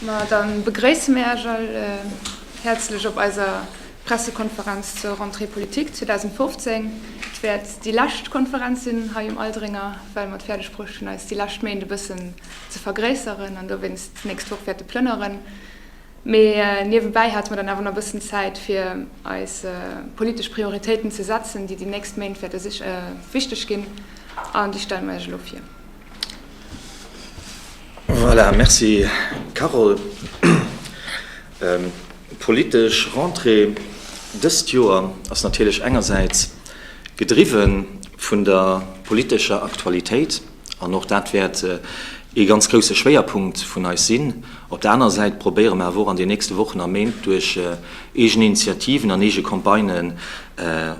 Ma da begréisse mir Äech all häerzlech op eiser Pressekonferenz zur Rentrée politique 2015. Et wäert déi lescht Konferenz sinn hei um Aldringer, well mer et fäerdeg bruecht hunn, eis déi lescht Méint e bëssen ze vergréisseren an dowéinst d'nächst Woch wäerte plënneren. Mee niewebäi hate mer dann awer nach e bëssen Zäit, fir eis politesch Prioritéiten ze setzen, déi déi nächst Méint wäerte wichteg ginn. An déi stelle mer Iech elo vir. Voilà, merci Carole. D'politesch Rentrée dëst Joer ass natierlech engersäits gedriwwe vun der politescher Aktualitéit, an och dat wäert ee ganz grousse Schwéierpunkt vun eis sinn. Op der anerer Säit probéiere mer awer och an den nächste Wochen a Méint duerch eegen Initiativen an eege Campagnen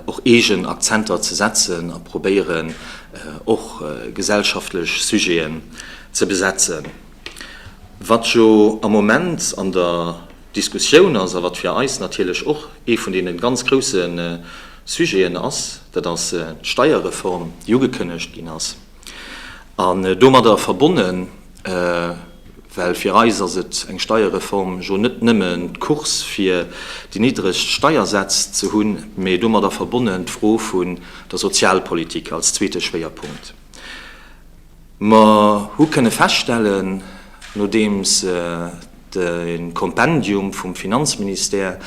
och eegen Akzenter ze setzen a probéieren, och gesellschaftlech Sujeten ze besetzen. Wat jo am Moment an der Diskussioun ass a wat fir eis natierlech och ee vun deene ganz grouse Sujeten ass, dat ass d'Steierreform, déi ugekënnegt ginn ass. An domadder verbonnen Well fir eis ass et eng Steierreform jo net nëmmen d'Course fir déi niddregst Steiersätz ze hunn, mee domadder verbonnen d'Fro vun der Sozialpolitik als zweete Schwéierpunkt. Mer hu kënne feststellen, nodeems de Kompendium vum Finanzministère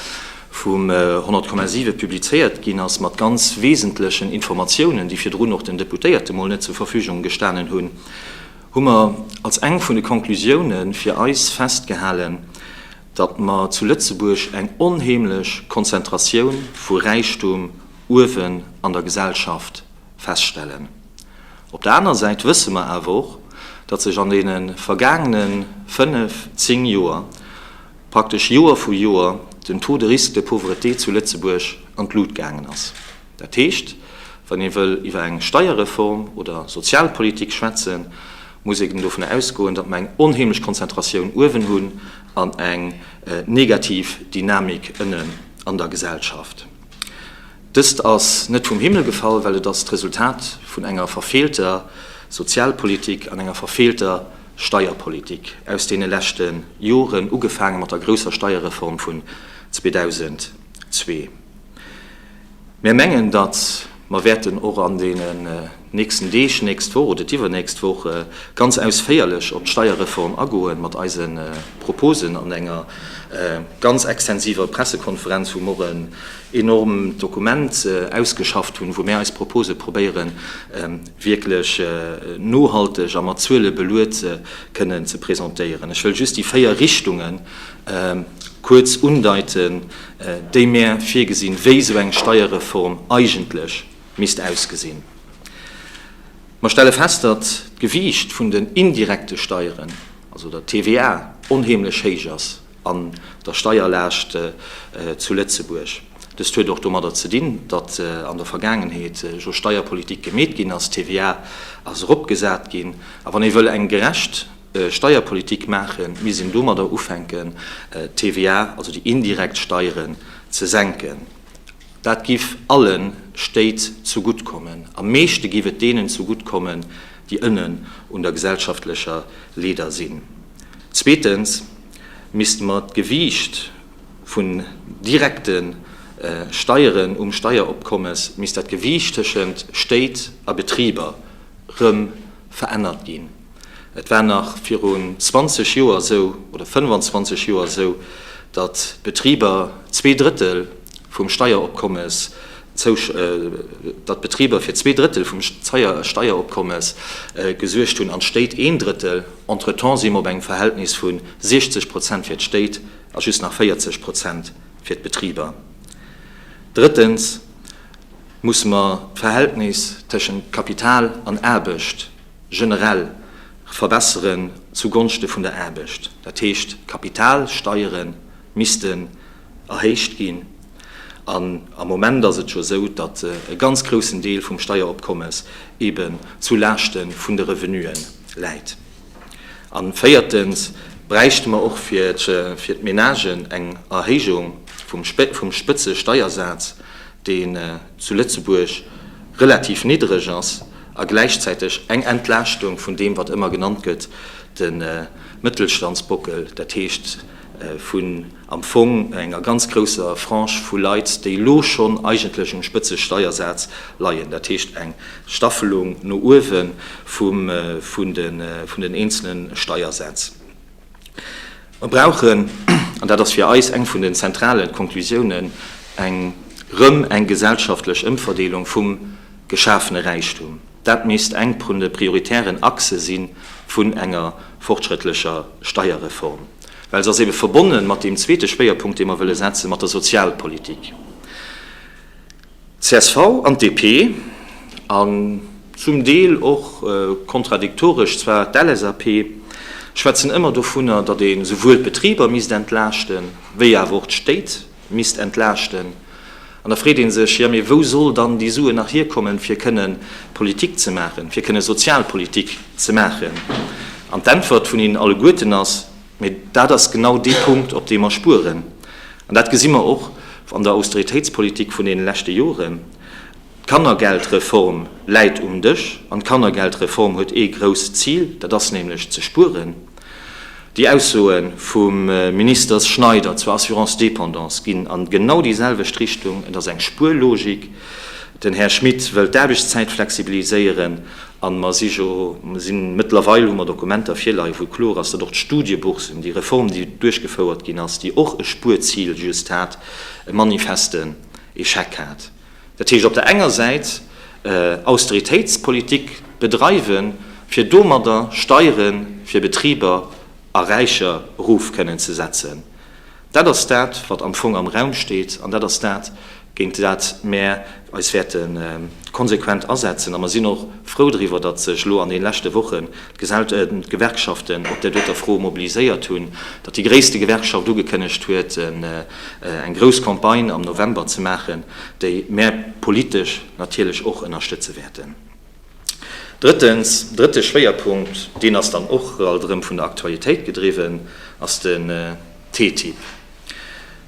vum 100,7 publizéiert ginn ass, mat ganz wesentlechen Informatiounen, déi virdrun och den Deputéierte mol net zur Verfügung gestanen hunn, hu mer als eng vun de Conclusioune fir eis festgehalen, datt mer zu Lëtzebuerg eng onheemlech Konzentratioun vu Räichtum uewen an der Gesellschaft feststellen. Op der aner Säit wësse mer awer och, datt sech an deene vergaangene fënnf, zéng Joer, praktesch Joer vu Joer, den Taux de risque de pauvreté zu Lëtzebuerg an d'Lut gaangen ass. Dat heescht, wann ee wëll iwwer eng Steierreform oder Sozialpolitik schwätzen, muss een dovun ausgoen, datt mer eng onheemlech Konzentratioun uewen hunn an eng negativ Dynamik ënnen an der Gesellschaft. Dëst ass net vum Himmel gefall, well et ass d'Resultat vun enger verfeelter Sozialpolitik an enger verfeelter Steierpolitik aus deene leschte Joren, ugefaange mat der grousser Steierreform vun 2002. Mir mengen, datt mer wäerten och an deenen nächsten Deeg, nächst Woch oder d'iwwernächst Woch ganz ausféierlech op d'Steierreform agoen, mat eise Proposen an enger ganz extensiver Pressekonferenz, wou mer en enorm Dokument ausgeschafft hunn, wou mir eis Propose probéieren wierklech nohalteg a mat Zuele beluet kënnen ze presentéieren. Ech wëll just déi véier Richtunge kuerz undeiten, déi mär virgesinn, wéi esou eng Steierreform eigentlech misst ausgesinn. Mer stelle fest, datt d'Gewiicht vun den indirekte Steieren, also der TVA, onheemlech héich ass an der Steierlaascht zu Lëtzebuerg. Dëst huet och domadder ze dinn, datt an der Vergaangenheet jo Steierpolitik gemeet ginn ass, d'TVA ass eropgesat ginn. A wann ee wëll eng gerecht. Steierpolitik maachen, misst een domadder ufänken, d'TVA, also déi indirekt Steieren, ze senken. Dat giff alle Stéit zegutt kommen. Am meeschte giff et deenen zegutt kommen, déi ënnen un der gesellschaftlecher Leeder sinn. Zweetens misste mer d'Gewiicht vun direkte Steieren um Steieropkommes, misst dat Gewiicht tëschent Stéit a Betriber rëm verännert ginn. Et war nach virun 20 Joer esou, oder 25 Joer esou, datt d'Betriber zwee Drëttel vum Steieropkommes, datt d'Betriber fir zwee Drëttel vum Steieropkommes gesuergt hunn an d'Stéit een Drëttel. Entretemps si mer op engem Verhältnis vu 60 Prozent fir d'Stéit a just nach 40 Prozent fir d'Betriber. Drëttens musse mer d'Verhältnis tëschent Kapital an Aarbecht. generell verbesseren zu Gonschte vun der Aarbecht, dat heescht d'Kapitalsteiere missten erhéicht ginn. An am Moment ass et scho esou, datt e ganz groussen Deel vum Steieropkommes eben zu Laaschte vun de Revenue läit. An véiertens bräichte mer och fir d'Menagen eng Erhéijung vum Spëtzesteiersaz, deen zu Lëtzebuerg relativ niddreg ass. a gläichzäiteg eng Entlaaschtung vun deem, wat ëmmer genannt gëtt, de Mëttelstandsbockel, dat heescht vun am Fong enger ganz grousser Frange vu Leit, déi elo schonn eigentlech um Spëtzesteiersaz leien, dat heescht eng Staffelung no uewe vun den eenzele Steiersäz. Mer brauchen, an dat ass fir eis eng vun den zentralen Konklusiounen, eng rëm eng gesellschaftlech Ëmverdeelung vum geschafene Räichtum. Dat misst eng prun de prioritären Achse si vun enger fortschrëttlecher Steierreform, well se ass ebe verbonnen mat deem zweete Schwéierpunkt, dee mer wëlle setzen, mat der Sozialpolitik. Csv an DP, an zum Deel och kontradiktoresch zwar d'LSAP, schwätzen ëmmer dovunner, datt ee souwuel d'Betriber misst entlaaschten, wéi awer och d'Stéit misst entlaaschten. An da freet ee sech, jo mee wou soll dann déi Suen nach hierkommen, fir kënnen Politik ze maachen, fir kënnen Sozialpolitik ze maachen? An d'Äntwert vun hinnen alleguerten ass, Mee dat ass genau dee Punkt, op deem mer spueren. An dat gesi mer och an der Austeritéitspolitik vun deene leschte Joren. D'Kannergeldreform läit um Dësch. An d'Kannergeldreform huet ee grousst Zil, dat ass nämlech ze spueren. Déi Aussoe vum Ministers Schneider zur Assurance dépendance ginn an genau déi selwecht Richtung. Et ass eng Spuerlogik. Den Här Schmit wëll d'Aarbechtszäit flexibiliséieren. A mer si jo, mer sinn, mëttlerweil hu mer Dokumenter virleien, wou kloer ass, datt och d'Studieboursen, déi Reform, déi duerchgefouert ginn ass, déi och e Spuerzil just hat, e manifesten Échec hat. Dat heescht, op der enger Säit Austeritéitspolitik bedreiwen, fir domadder Steiere fir Betriber a Räicher erof kënnen ze setzen, Dat ass dat, wat am Fong am Raum steet, an dat ass dat, géint dat mär eis wäerte konsequent asetzen. A mer sinn och frou driwwer, datt sech elo an deene leschte Wochen d'Gewerkschaften op där doter Fro mobiliséiert hunn, datt déi gréisste Gewerkschaft ugekënnegt huet, eng grouss Campagne am November ze maachen, déi mär politesch natierlech och ënnerstëtze wäerten. Drëttens, drëtte Schwéierpunkt, deen ass dann och alt erëm vun der Aktualitéit gedriwwen, ass den TTIP.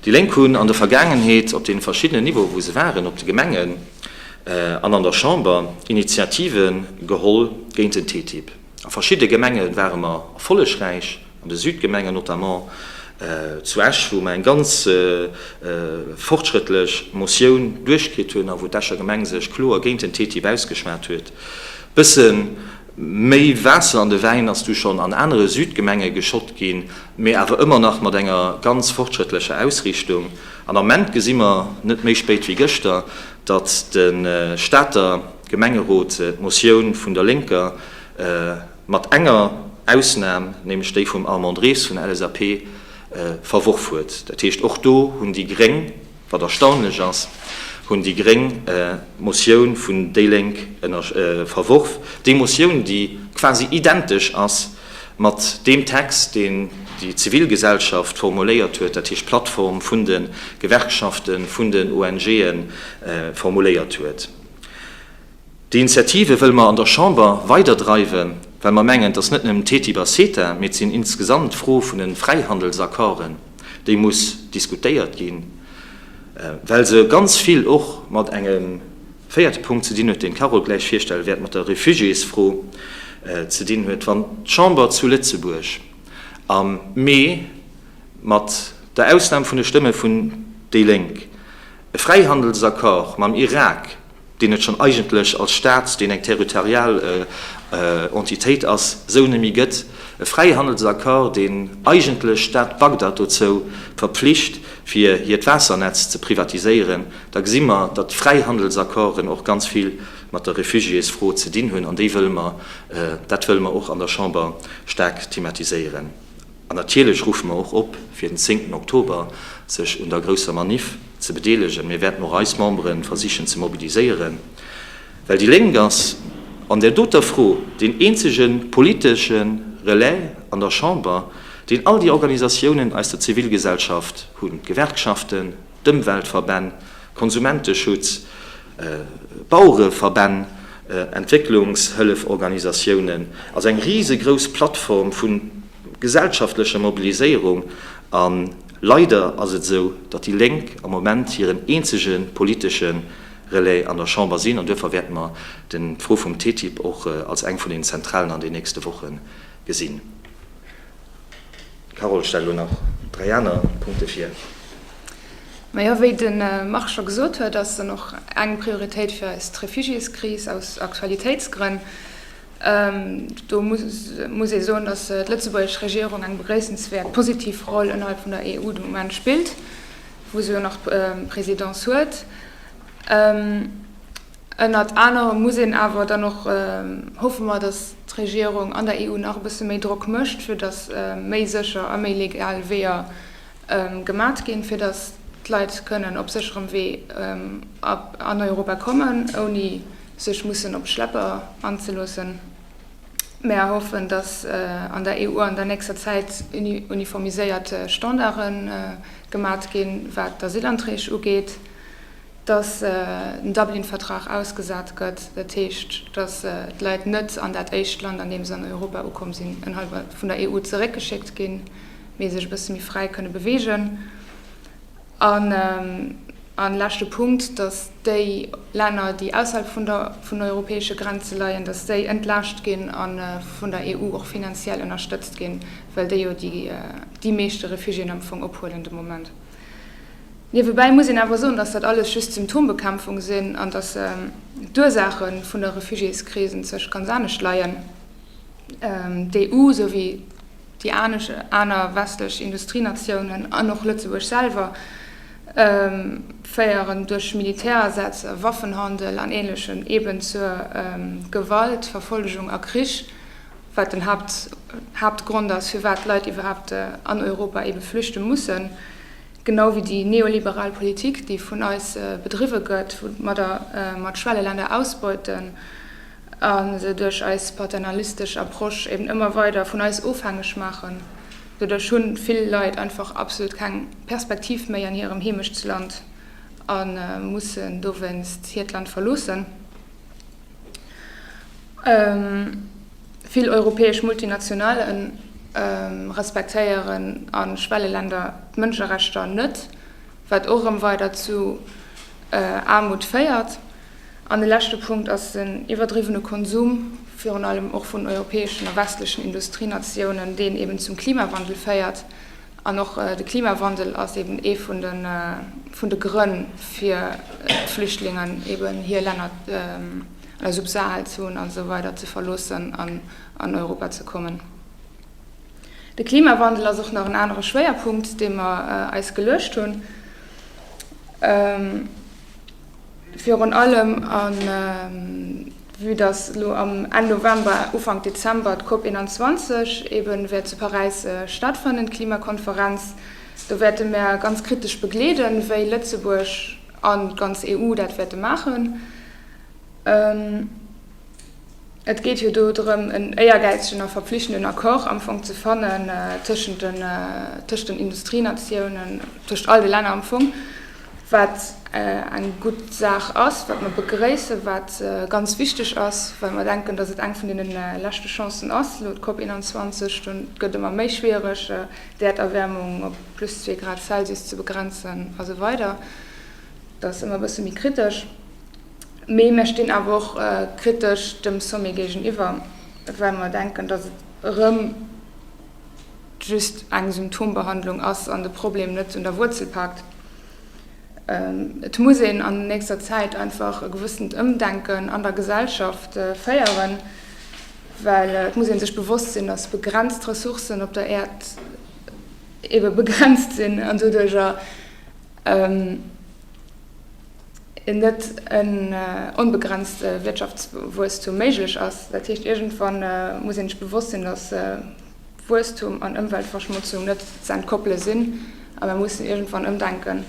Déi Lénk hunn an der Vergaangenheet op deene verschiddenen Niveaue wou se waren, op de Gemengen an an der Chamber, Initiative geholl géint den TTIP. A verschidde Gemenge ware mer erfollegräich, an de Südgemengen, notamment zu Esch, wou mer eng ganz fortschrëttlech Motioun duerchkritt hunn a wou d'Escher Gemeng sech kloer géint den TTIP ausgeschwat huet. Bësse méi Waasser an de Wäin ass du schonn an anere Südgemenge geschott ginn, mee awer ëmmer nach mat enger ganz fortschrëttlecher Ausriichtung. An am Ament gesi mer, net méi spéit wéi gëschter, datt de Stater. Gemengerot-Motioun vun der Lénker, mat enger Ausnam, nämlech déi vum Armand Ries vun der LSAP, verworf huet. Dat heescht, och do hunn déi Gréng, wat erstaunlech ass, hunn déi Gréng d'Motioun vun déi Lénk verworf, déi Motioun, déi quasi identesch ass mat deem Text, deen déi Zivilgesellschaft formuléiert huet, dat heescht d'Plattform vun de Gewerkschaften, vun den ONG'en formuléiert huet. Déi Initiative wëlle mer an der Chamber weiderdreiwen, well mer mengen, dass net nëmmen TTIP a CETA, mee et sinn insgesamt d'Fro vun de Fräihandelsaccorden, déi muss diskutéiert ginn, well se ganz vill och mat engem véierte Punkt ze dinn huet, deen d'Carole gläich virstelle wäert, mat der Refugiésfro ze dinn huet. Wann d'Chamber zu Lëtzebuerg am Mee, mat der Ausnam vun de Stëmme vun déi Lénk, E Fräihandelsaccord mam Irak, deen et schonn eigentlech als Staat, deen eng territorial Entitéit ass, esou net méi gëtt. E Fräihandelsaccord, deen eigentlech d'Stad Bagdad dozou verpflicht, fir hiert Waassernetz ze privatiséieren. Da gesi mer, datt Fräihandelsaccorden och ganz vill mat der Refugiésfro ze dinn hunn. An déi wëlle mer, dat wëlle mer och an der Chamber staark thematiséieren. An natierlech ruffe mer och op, fir den zéngten Oktober sech un der grousser Maniff ze bedeelegen. Mir wäerten och eis Membere versichen ze mobiliséieren, well déi Lénk ass an där doter Fro deen eenzege politesche Relais an der Chamber, deen all déi Organisatiounen aus der Zivilgesellschaft hunn, d'Gewerkschaften, d'Ëmweltverbänn, Konsumenteschutz, Bauereverbänn, Entwécklungshëlleforganisatiounen, also eng risegrouss Plattform vu gesellschaftlecher Mobiliséierung. A leider ass et esou, datt déi Lénk am Moment hiren eenzege politesche Relais an der Chamber sinn. An duerfir wäerte mer d'Fro vum TTIP och als eng vun den zentralen an den nächste Woche gesinn. D'Carole stellt elo nach dräi aner Punkte vir. Majo, wéi de Marc scho gesot huet, ass en och eng Prioritéit fir eis, d'Refugiéskris, aus Aktualitéitsgrënn. Do muss ee soen, datt d'lëtzebuergesch Regierung eng begréissenswäert positiv Roll ënnerhalb vun der EU de Moment spillt, wou se jo nach d'Présidence huet. Ënnert anerem muss een awer dann och hoffe mer, datt d'Regierung an der EU nach e bësse méi Drock mécht, fir datt méi sécher a méi legal Weeër gemat ginn, fir datt d'Leit kënnen op sécherem Wee an Europa kommen, ouni sech mussen op Schlepper anzeloossen. Mer hoffen, datt an der EU an der nächster Zäit uniformiséiert Standarde gemat ginn, wat d'Asylanträg ugeet. dass den Dublin-Vertrag ausgesat gëtt, dat heescht, dass d'Leit net an dat éischt Land, an deem se an Europa ukomm sinn, ënnerhalb vun der EU zeréckgeschéckt ginn, mee sech e bësse méi fräi kënne beweegen. An leschte Punkt, dass déi Länner, déi ausserhalb vun den europäesche Grenze leien, dass déi entlaascht ginn a vun der EU och finanziell ënnerstëtzt ginn, well déi jo déi meeschte Refugiéen am Fong ophuelen de Moment. Niewebäi muss een awer soen, dass dat alles just Symptombekämpfung sinn an dass d'Ursaache vun der Refugiéskris enzwech ganz anescht leien. D'EU, sou wéi déi aner westlech Industrienatiounen an och Lëtzebuerg selwer, féieren duerch Militärasätz, Waffenhandel an Ähnlechem eeben zur Gewalt, Verfollegung a Krich. wat den Haaptgrond ass, firwat d'Leit iwwerhaapt an Europa ebe flüchte mussen, genau wéi déi neoliberal Politik, déi vun eis bedriwwe gëtt, woumadder mer d'Schwelleländer ausbeuten a se duerch eis paternalistesch Approche eben ëmmer weider vun eis ofhängeg maachen. Doduerch hu vill Leit einfach absolut keng Perspektiv méi an hirem Heemechtsland a mussen dowéinst hiert Land verloossen. Vill europäesch Multinationale respektéieren a Schwelleländer d'Mënscherechter net, wat och erëm weider zu Aarmut féiert. An de leschte Punkt ass den iwwerdriwwene Konsum, virun allem och vun europäeschen a westlechen Industrienatiounen, deen eeben zum Klimawandel féiert. An och de Klimawandel ass eben ee vun de Grënn, fir d'Flüchtlingen eben hir Länner an der Subsaharzon an esou weider ze verloossen an an Europa ze kommen. De Klimawandel ass och nach en anere Schwéierpunkt, dee mer eis geluecht hunn. Virun allem à vue, dass elo am Enn November, Ufank Dezember d'COP 21 eben wäert zu Paräis stattfannen, d'Klimakonferenz. Do wäerte mär ganz kritesch begleeden, wéi Lëtzebuerg an d'ganz EU dat wäerte maachen. Et geet jo do drëm, en éiergäizegen a verpflichtenden Accord am Fong ze fannen tëschent den, tëschent den Industrienatiounen, tëschent all de Länner am Fong, wat eng gutt Saach ass, wat mer begrëissen, wat ganz wichteg ass, well mer denken, dass et eng vun deenen leschte Chancen ass, elo d'COP 21. Dann gëtt ëmmer méi schwierig, d'Äerderwärmung op plus zwee Grad Celsius ze begrenzen a sou weider. Dat ass ëmmer e bësse méi kritesch. Mee mir stinn awer och kritesch dem Sommet géigeniwwer, well mer denken, datt et erëm just eng Symptombehandlung ass an de Problem net un der Wuerzel paakt. Et muss een an nächster Zäit einfach e gewëssent Ëmdenken an der Gesellschaft féieren, well et muss ee sech bewosst sinn, datt begrenzt Ressourcen op der Äerd ebe begrenzt sinn an doduerjer, net en onbegrenzte Wirtschaftswuesstum méiglech ass. Dat heescht, iergendwann muss ee sech bewosst sinn, datt Wuesstum an Ëmweltverschmotzung net z'entkoppele sinn a mir mussen iergendwann ëmdenken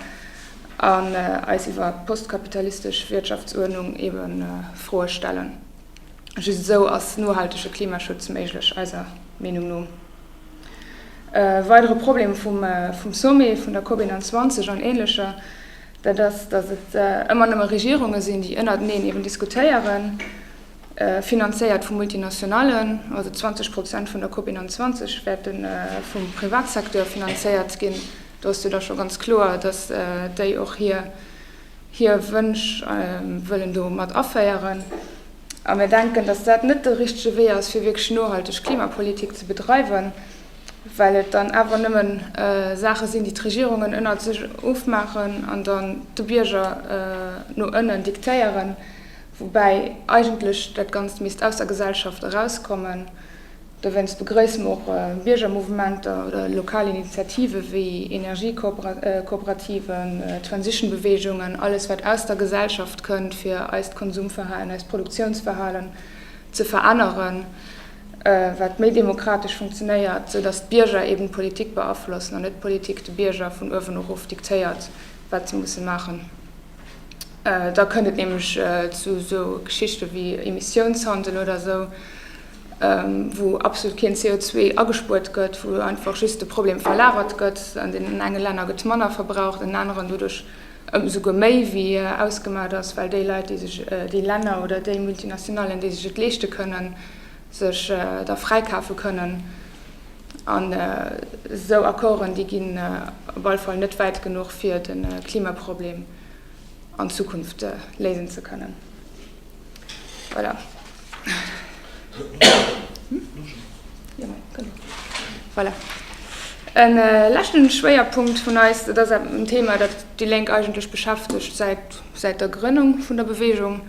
an eis iwwer d'postkapitalistesch Wirtschaftsuerdnung ebe Froe stellen. Just esou ass nohaltege Klimaschutz méiglech, eiser Meenung no. E weidere Problem vum Sommet vun der COP 21 an Änlecher, dat ass, datt et ëmmer nëmme Regierunge sinn, déi ënnerteneen eeben diskutéieren, finanzéiert vu Multinationalen, also 20 Prozent vun der Cop 21 wäerte vum Privatsecteur finanzéiert ginn, do ass jo da scho ganz kloer, datt déi och hir Wënsch wëllen do mat aféieren. A mir denken, datt dat net de richtege Wee ass, fir wierklech nohalteg Klimapolitik ze bedreiwen. well et dann awer nëmmen Saache sinn, déi d'Regierungen ënnert sech ofmaachen an dann de Bierger no ënnen diktéieren, woubäi eigentlech dat Ganzt misst aus der Gesellschaft erauskommen. Dowéinst begrëisse mer och Biergermouvementer oder lokal Initiative wéi Energiekooperativen, Transition-Beweegungen, alles wat aus der Gesellschaft kënnt, fir eist Konsumverhalen, eist Produktiounsverhalen ze veränneren. wat méi demokratesch funktionéiert, sou datt d'Bierger eben d'Politik beaflossen an net d'Politik de Bierger vun uewen erof diktéiert, wat se musse maachen. Da kënnt et nämlech zu esou Geschichte wéi Emissiounshandel oder esou, wou absolut keen CO2 agespuert gëtt, wou einfach just de Problem verlagert gëtt, an deenen enge Länner gëtt manner verbraucht an deenen aneren doduerch, Esouguer méi wéi ausgemaat ass, well déi Leit, déi sech, déi Länner oder déi Multinationallen, déi sech et leeschte kënnen, sech da fräikafe kënnen. An esou Accorden, déi ginn op alle Fall net wäit genuch, fir de Klimaproblem an Zukunft léisen ze kënnen. En leschten Schwéierpunkt vun eis, dat ass en Thema, dat déi Lénk eigentlech beschäftegt säit der Grënnung vun der Beweegung,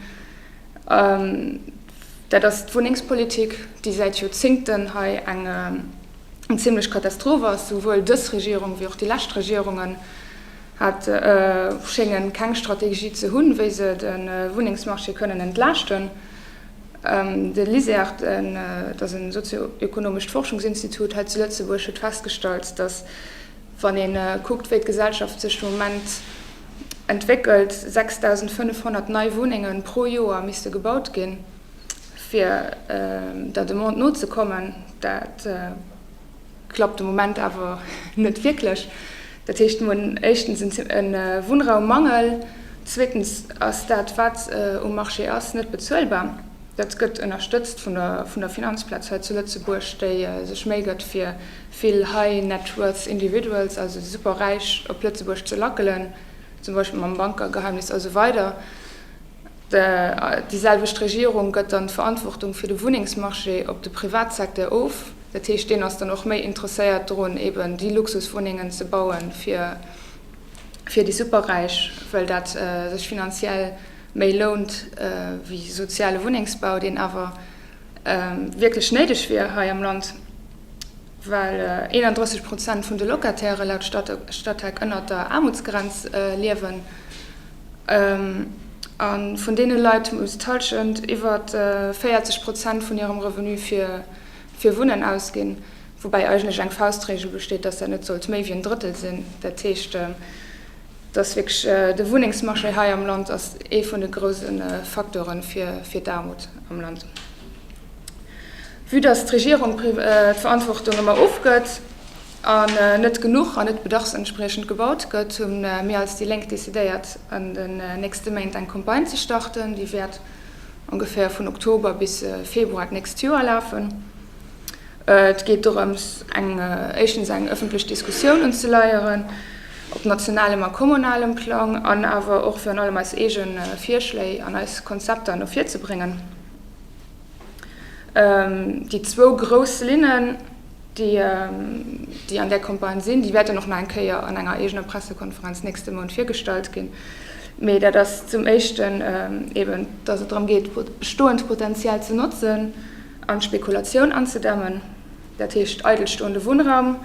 dat ass d'Wunnengspolitik, déi säit Joerzéngten hei eng zimmlech Katastroph ass, souwuel dës Regierung wéi och déi lescht Regierungen. hat schéngen keng Strategie ze hunn, wéi se de Wunnengsmarché kënnen entlaaschten. De LISERT, dat ass e sozio-ekonomescht Forschungsinstitut hei zu Lëtzebuerg, huet festgestallt, datt, wann ee kuckt, wéi d'Gesellschaft sech de Moment entwéckelt, 6.500 nei Wunnenge pro Joer misste gebaut ginn, fir der Demande nozekommen. Klappt de Moment awer net wierklech. Dat heescht, mir hunn éischtens e Wunnraummangel, zweetens ass dat, wat um Marché ass, net bezuelbar. Dat gëtt ënnerstëtzt vun der Finanzplaz hei zu Lëtzebuerg, déi sech Méi gëtt fir vill high net worth individuals, also déi Superräich, op Lëtzebuerg ze lackelen, zum Beispill mam Bankergeheimnis a sou weider. Déi selwecht Regierung gëtt dann d'Verantwortung fir de Wunnengsmarché op de Privatsecteur of. Dat heescht, deen ass dann och méi interesséiert drun, eben déi Luxuswunnengen ze baue fir déi Superräich, well dat sech finanziell méi lount wéi soziale Wunnengsbau, deen awer wierklech néideg wier hei am Land. Well 31 Prozent vun de Locatairë laut Statec ënnert der Aarmutsgrenz liewen a vun deene Leit muss d'Hallschent iwwer 40 Prozent vun hirem Revenu fir Wunnen ausginn, woubäi eigentlech eng Faustregel besteet, datt dat net sollt méi wéi en Drëttel sinn, dat heescht dass wierklech de Wunnengsmarché hei am Land ass ee vun de grouse Faktore fir d'Aarmut am Land. Vue dass d'Regierung d'Verantwortung ëmmer ofgëtt an net genuch an net bedarfsentspriechend gebaut gëtt, hu mir als déi Lénk decidéiert an den nächste Méint eng Campagne ze starten, déi wäert ongeféier vun Oktober bis Februar d'nächst Joer lafen. Et geet dorëms, eng, éischtens eng ëffentlech Diskussioun unzeleieren, op nationalem a kommunalem Plang, an awer och virun allem eis eege Virschléi an eis Konzepter no vir ze bréngen. Déi zwou grouss Linnen, déi an där Campagne sinn, déi wäerten och nach eng Kéier an enger eegener Pressekonferenz nächste Mount virgestallt ginn. Mee dat ass zum éischten eeben, dass et drëm geet, bestoend Potenzial ze notzen, An d'Spekulatioun anzedämmen, dat heescht eidelstoende Wunnraum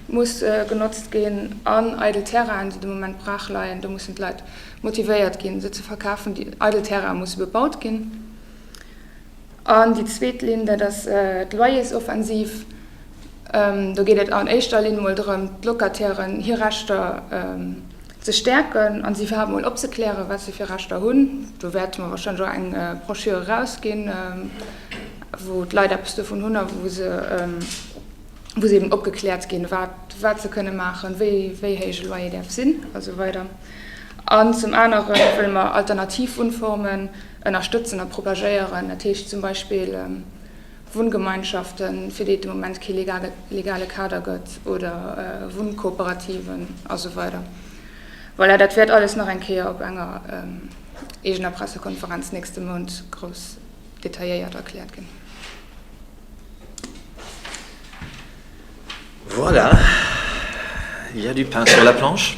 muss genotzt ginn an eidel Terrainen, déi de Moment braach leien, do mussen d'Leit motivéiert ginn, se ze verkafen. Déi eidel Terraine musse bebaut ginn. An déi zweet Linn, dat ass d'Loyersoffensiv. Do geet et an éischter Linn emol drëm, d'Locatairen hir Rechter Ze stäerken an se iwwerhaapt mol opzeklären, wat se fir Rechter hunn. Do wäerte mer warscheinlech och eng Brochure erausginn, wou d'Leit eppes dovun hunn a wou se eben opgekläert ginn, wat se kënne maachen, wéi héich e Loyer däerf sinn a sou weider. An zum anere wëlle mer alternativ Wunnformen ënnerstëtzen a propagéieren, dat heescht zum Beispill, Wunngemeinschaften, fir déi et de Moment kee legale Kader gëtt, oder Wunnkooperativen a sou weider. Voilà, dat wäert alles nach eng Kéier op enger eegener Pressekonferenz nächste Mount grouss detailléiert erkläert ginn. Voilà, il y a du pain sur la planche.